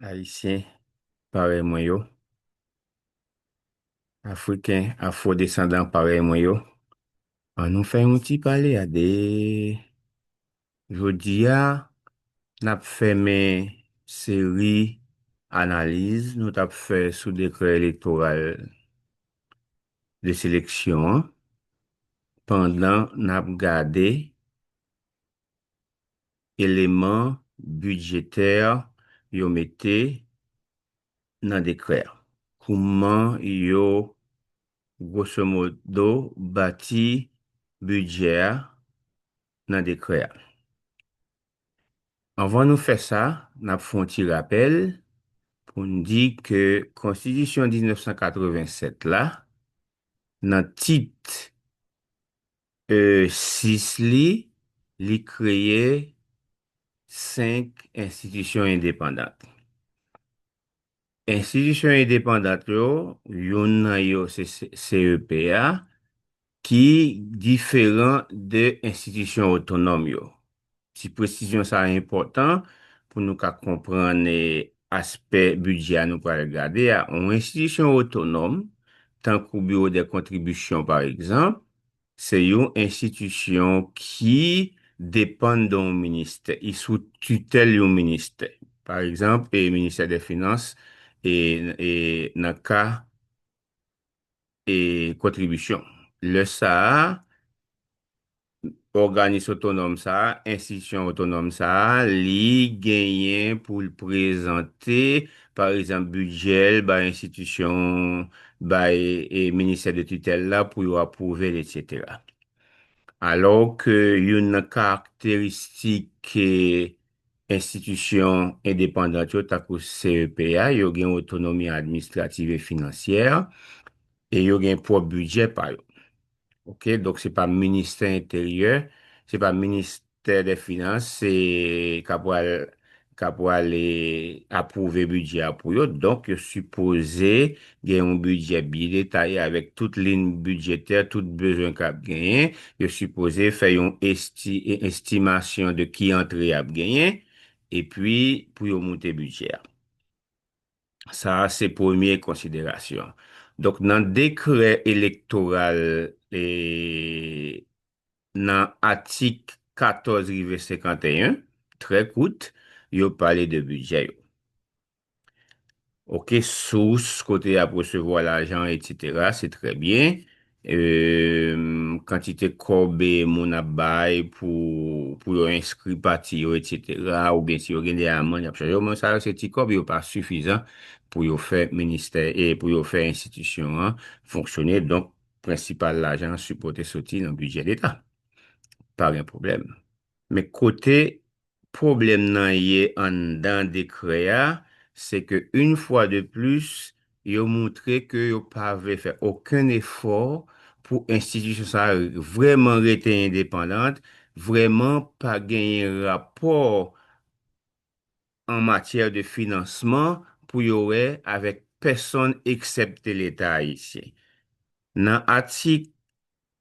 Ayisyen parèy mwen yo, Afriken afwodesandan parèy mwen yo, an nou fè yon ti pale a 2. Jodi a, n ap fèmen seri analiz nou t ap fè sou dekrè elektoral de seleksyon an pandan n ap gade eleman bidjetè yo mete nan dekrè a? Kouman yo gwosomodo bati bidjè a nan dekrè a? Anvan nou fè sa, n ap fè yon ti rapèl pou n di ke Konstitisyon 1987 la, nan tit E 6 li, li kreye 5 enstitisyon endepandant. Enstitisyon endepandant yo, youn nan yo se CEP a, ki diferan de enstitisyon otonòm yo. Ti presizyon sa a enpòtan pou nou ka konprann aspè bidjè a nou pral gade a. Yon enstitisyon otonòm, tankou Biwo dè Kontribisyon pa egzanp, se yon enstitisyon ki depann de yon ministè, li sou titèl yon ministè. Pa egzanp, Ministè dè Finans nan ka e kontribisyon. Lè sa a, òganis otonòm sa a, enstitisyon otonòm sa a, li genyen pou l prezante, pa egzanp, bidjè l bay enstitisyon, bay ministè de titèl la pou yo apwouve l, etsetera. Alò ke youn nan karakteristik Enstitisyon endepandant yo, tankou CEP a, yo gen otonomi administrativ e finansyè, e yo gen pwòp bidjè pa yo. Ok, donk se pa ministè enteryè, se pa ministè dè finans, se ka pwal, ka pwale apwouve bidjè a pou yo, donk yo sipoze gen yon bidjè byen detaye avèk tout lin bidjetè, tout bezwen k ap genyen, yo sipoze fè yon estimasyon de ki antre y ap genyen epi pou yo moute bidjè a. Sa a se premye konsiderasyon. Donk nan dekrè elektoral e nan atik 14 rive 51, trè kout, yo pale de bidjè yo. Ok, sous kote y ap resevwa lajan, etc. Se trè byen. Kantite kòb moun ap bay pou yo enskri pati yo, etc. Ou byen si yo gen de aman, y ap chaje yo. Mwen sa yo se ti kòb yo pa sifizan pou yo fè ministè e pou yo fè enstitisyon an fonksyone. Donk, prensipal lajan an sipote soti nan bidjè leta. Pa gen pwoblèm. Men kote Pwoblèm nan ye anndan dekrè a, se ke yn fwa de plis, yo moutre ke yo pa vle fè okenn efò pou enstitisyon sa a vrèman rete endepandant, vrèman pa genyen rapò an matyè de finansman pou yo wè avèk pèsonn eksepte Leta Ayisyen. Nan atik.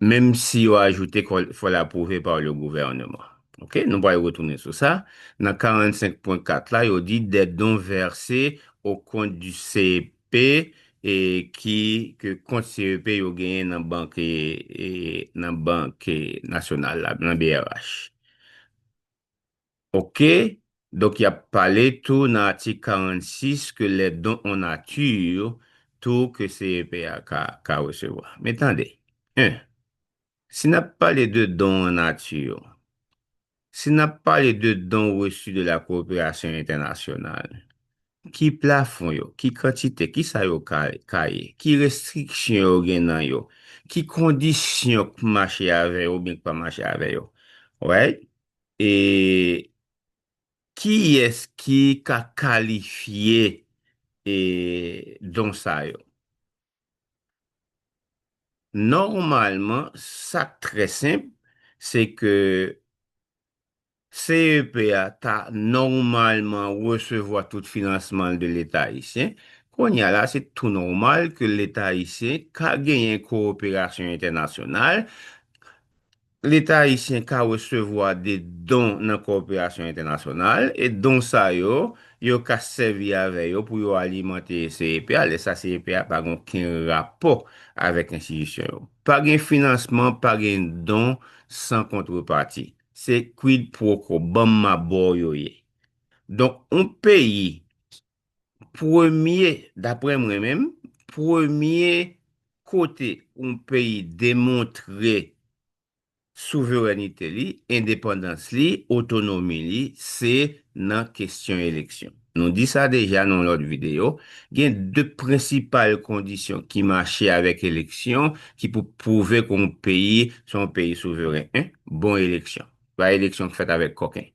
menm si yo ajoute ke il faut l'approuver par le gouvernement. Ok, nou pral retounen sou sa. Nan 45.4 la, yo di des dons versés au compte du CEP e ki ke kont CEP yo genyen nan bank nan bank nasyonal la, nan brh. Ok, donk y ap pale tou nan atik 46 ke lè don an nati tou ke CEP a ka resevwa. Men tande, 1, si n ap pale de don an nati, si n ap pale de don reçu de la coopération internationale, ki plafon yo, ki kantite, ki sa yo ka ye, ki restriksyon yo gen nan yo, ki kondisyon k mache avè yo oubyen k pa mache avè yo. Alright? E kiyès ki ka kalifye e don sa yo? Nòmalman, sa k trè senp, se ke CEP a ta nòmalman resevwa tout finansman l de Leta ayisyen. Kounye a la, se tou nòmal ke Leta ayisyen ka genyen kowoperasyon entènasyonal. Leta ayisyen ka resevwa de don nan koperasyon entènasyonal, e don sa yo, yo ka sèvi avè yo pou yo alimante CEP a, lè sa CEP a pa gen oken rapò avèk enstitisyon yo. Pa gen finansman, pa gen don san kontrepati. Se quid pro quo, banm ma ba w yo ye. Donk, yon peyi Premye, daprè mwen menm, premye kote yon peyi demontre souverènite li, endepandans li, otonomi li, se nan kesyon eleksyon. Nou di sa deja nan yon lòt videyo, gen de prensipal kondisyon ki mache avèk eleksyon ki pou pwouve ke yon peyi se yon peyi souveren. 1, bon eleksyon. Pa eleksyon ki fèt avèk koken.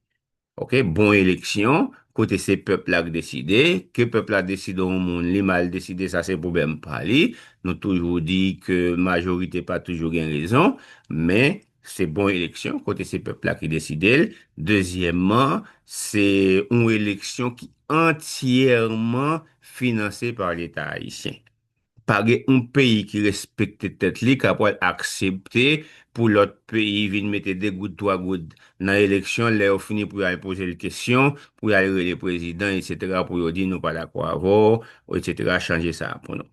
Ok bon eleksyon kote se pèp la k deside ke pèp la deside yon moun li mal deside sa se pwoblèm pa li nou toujou di ke majorite pa toujou gen rezon men se bon eleksyon kote se pèp la ki deside l dezyèmman se yon eleksyon ki antyèman finanse pa leta ayisyen Pa gen yon peyi ki respekte tèt li ka pwal aksepte pou lòt peyi vin mete 2 goud 3 goud nan eleksyon lè yo fini pou yo al pozel kesyon pou yal rele prezidan etc pou yo di nou pa dakò avèw etc chanje sa pou nou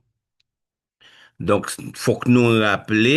donk fòk nou raple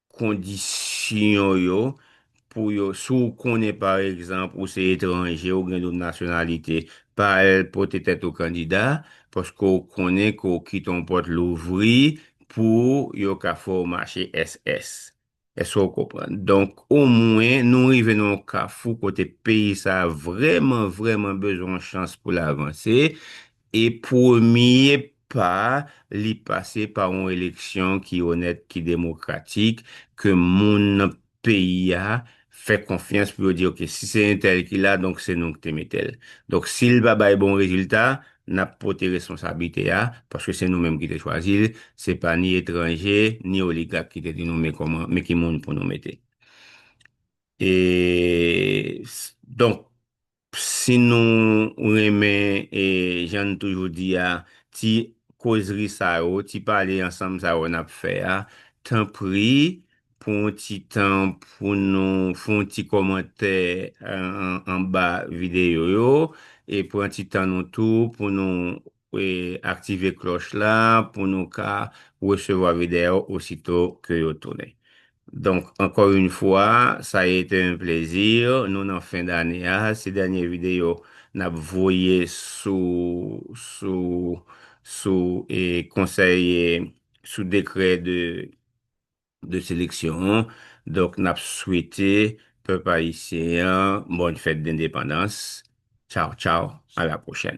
Kondisyon yo pou yo, si w konnen pa egzanp ou se etranje ou gen doub nasyonalite, pa al pote tèt ou kandida paske w konnen ke w kite yon pòt louvri pou yo ka fè w mache SS. Èske w konprann? Donk, omwen nou rive nan yon kafou kote peyi sa a vrèman, vrèman bezwen yon chans pou l avanse. E premye pa a, li pase pa yon eleksyon ki onèt, ki demokratik, ke moun nan peyi a fè konfyans pou yo di ok, si se entèl ki la, donk se nou ki te mete l. Donk si l pa bay bon rezilta, n ap pote responsablite a, paske se nou menm ki te chwazi l, se pa ni etranje, ni oligak ki te di nou men kòman, men ki moun pou nou mete. E, donk, Si nou renmen e jan n toujou di a, ti kozri sa yo, ti pale ansanm sa yo n ap fè a, tanpri pran yon ti tan pou nou fè yon ti kòmantè anba videyo yo e pran ti tan nou tou pou nou Aktive kloch la pou nou ka resevwa video osito ke yo tounen. Donk anko yn fwa sa a ete un plaisir, nou nan fen dane a, se dènye video nap voye sou sou sou konsèy sou dekrè de de seleksyon an donk nap swete pèp ayisyen an bòn fèt dendepandans tchaw tchaw a la pwochèn.